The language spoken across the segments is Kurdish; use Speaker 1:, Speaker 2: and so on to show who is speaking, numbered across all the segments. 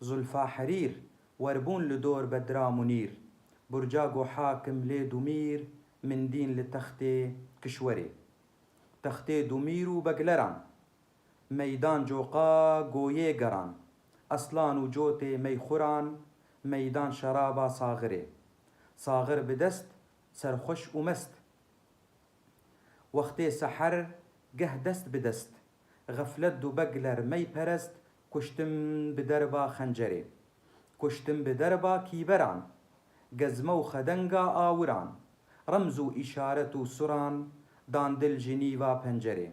Speaker 1: Zulfa herîr, werbûn li dor Bedra Munîr. Burca go hakim lê Dumîr, min dîn li textê kişwerê. Textê Dumîr û Begleran, meydan coqa goyê geran. Eslan û cotê meyxuran, meydan şeraba saxirê. Saxir bi dest, serxweş û mest. Wextê seher, geh dest bi dest. Xeflet du Begler meyperest, Kuştim bi derba xencerê. Kuştim bi derba kîberan. Gezme û xedenga awiran. Remz û îşaret û suran dan dil ji nîva pencerê.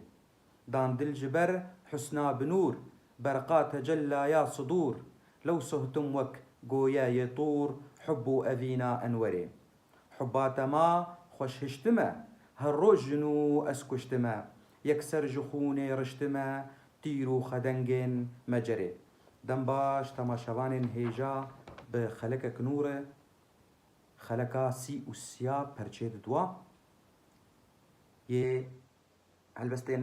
Speaker 1: Dan dil ji ber husna bi nûr, berqa tecellaya sidûr, lewsohtim wek goye yê tûr hub û evîna enwerê. Xubate ma xweş hiştime, her roj jin û ez kuştime, yekser ji xûnê riştime, tîr û xedengên me cerê. Dembaş temaşevanên hêja bi xelekek nû re xeleka sî û siya perçê didwa yê Helbestên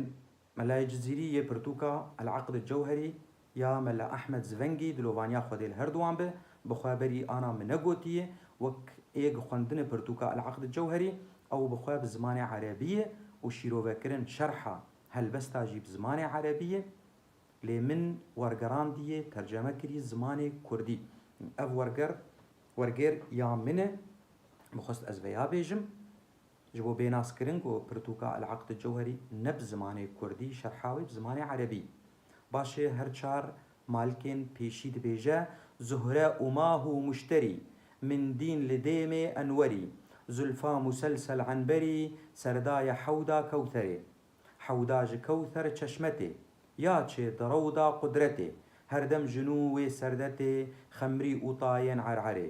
Speaker 1: Melayê Cizîrî yê pirtûka El Aqd Cewherî ya Mela Ehmed Zvengî dilovaniya xwedê li her di wan be, bi xwe berî ana min negotiyê, wek ê gi xwendinê pirtûka El Aqd Cewherî ew bi xwe bi zimanê erebiyê û şîrovekirin şerha helbesta jî bi zimanê erebiyê lê min wergerandiyê terceme kirî zimanê kurdî. Ev werger wergêr ya min e, bi xwest ez veya bêjim. Ji bo bênas kirin ku pirtûka El-Aqd El-Cewherî ne bi zimanê kurdî şerha wê bi zimanê erebî. Baş e her çar malkên pêşî dibêje Zuhre û mah û muşterî, min dîn li dêmê enwerî, zulfa muselsel enberî, serda ye hewda kewtherê. Hewda ji kewther çeşme tê, ya çê di rewda qudretê, herdem ji nû wê serde tê xemrî û tayên ererê.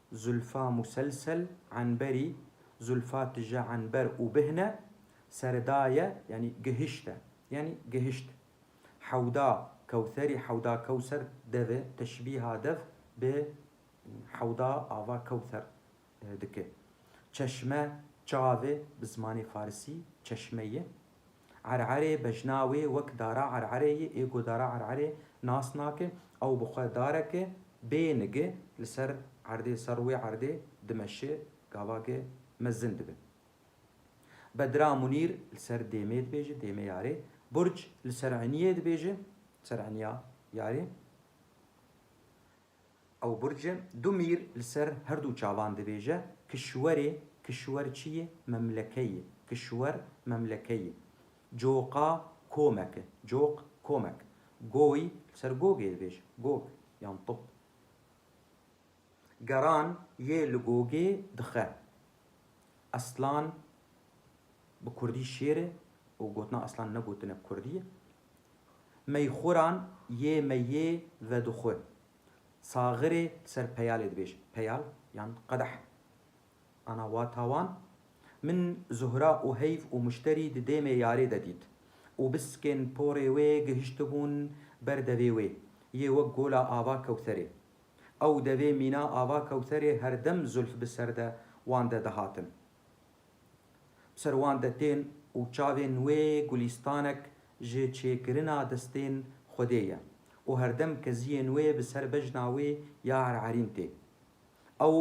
Speaker 1: Zulfa muselsel enberî zulfa tije enber û bihne serdaye yanî gihişte yanî gihişt. Hewda kewserî hewda kewser devê teşbîha dev bi hewda ava kewser dike. Çeşme çavê bi zimanê farisî çeşme ye. Ererê bejna wê wek dara ererê yê ê ku dara ererê nas nake, ew bi xwe dareke bê nigi li ser erdê li ser wê erdê dimeşe gavake mezin dibe. Bedra Munîr li ser dêmê dibêje, dêmê yarê. Burc li ser eniyê dibêje, li ser eniya yarê. Ew burce du mîr li ser her du çavan dibêje, Kişwerê, kişwer çi ye? Memleke ye. Kişwer, memleke ye. Coqa, komek e. Coq, komek. Goy, li ser gogê dibêje, gog yan top. Geran, yê li gogê dixe. Eslan, bi kurdî şêr e û gotina eslan ne gotinek kurdî ye. Meyxuran yê meyê vedixwe. Saxirê ser peyalê dibêj. Peyal yan qedeh. Ana wata wan, Min Zuhra û Heyv û Muşterî di dêmê yarê de dît û biskên porê wê gihiştibûn ber devê wê yê wek Gola Ava Kewtherê. Ew devê mîna Ava Kewtherê herdem zulf bi ser de wan de dihatin. Bi ser wan detên û çavên wê gulîstanek ji çêkirina destên Xwedê ye û herdem keziyên wê bi ser bejna wê ya ererîn tê. Ew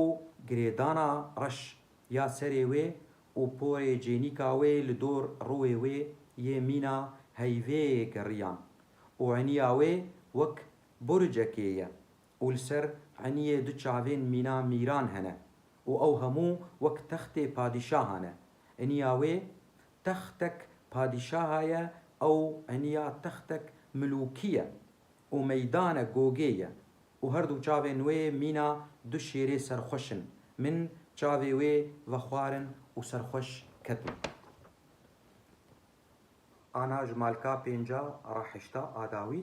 Speaker 1: girêdana reş ya serê wê û porê cênîka wê li dor rûê wê yê mîna heyvê geriyan û eniya wê wek buricekê ye. û li ser eniyê du çavên mîna mîran hene û ew hemû wek textê padîşaha ne. Eniya wê textek padîşaha ye, ew eniya textek milûkî ye û meydane gogê ye û her du çavên wê mîna du şêrê serxweş in. Min çavê wê vexwarin û serxweş ketim. Ana ji malka pênca re hişta, a dawî.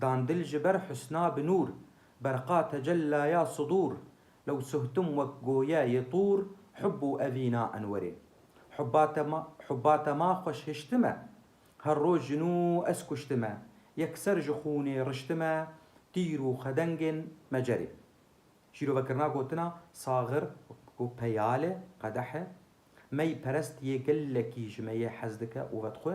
Speaker 1: Dan dil ji ber husna bi nûr, berqa tecella ya sidûr, lew suhtim wek goye yê tûr, hub û evîna enwerê. Hubba te ma, hubba te ma xweş hiştime, her roj ji nû ez kuştime, yekser ji xûnê riştime, tîr û xedengên me cerê. Şîrovekirina gotina saxir û peyale, qedehe, mey perest yê gelekî ji me yê hez dike û vedxwe,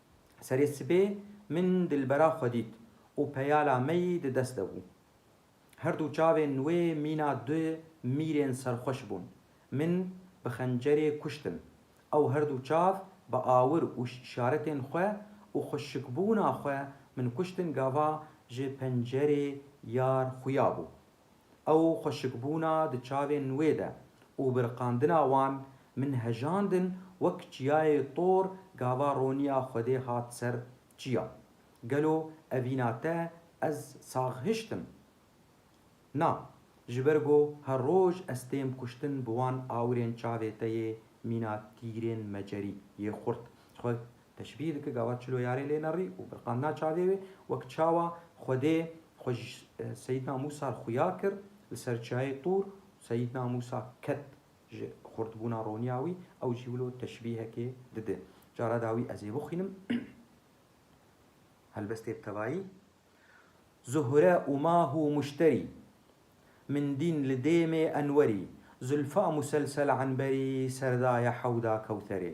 Speaker 1: Serê sibê min dilbera xwe dît û peyala me yî di dest de bû. Her du çavên wê mîna du mîrên serxweş bûn. Min bi xencerê kuştin. Ew her du çav bi awir û îşaretên xwe û xweşikbûna xwe min kuştin gava ji pencerê yar xuya bû. Ew xweşikbûna di çavên wê de û biriqandina wan min hejandin wek çiyayê tor gava roniya Xwedê hat ser çiya. Gelo evîna te ez sax hiştim? Na, ji ber go her roj ez têm kuştin bi wan awirên çavê te yê mîna tîrên mecerî yê xurt xwe Teşbîh dike gava çilo yarê lê nerî û birqandina çavê wê, wek çawa Xwedê xwe ji Seyîdna Mûsa re xuya kir li ser çiyayê Tûr û Seyîdna Mûsa ket ji xurtbûna roniya wî, ew jî wilo teşbîhekê dide. Cara dawî ez ê bixwînim. Helbestê bi tevayî. Zuhre û mah û muşterî. Min dîn li dêmê enwerî. Zulfa muselsel enberî, serdaye hewda kewtherê.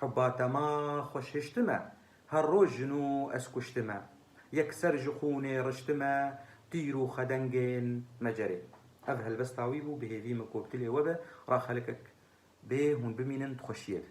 Speaker 1: Hubba te ma xweş hiştime. Her roj jin û ez kuştime. Yekser ji xûnê riştime. Tîr û xedengên me cerê. Ev helbesta wî bû, bi hêvî min ku bi dilê we be, ra xelikek bê hûn bimînin di xweşiyê de.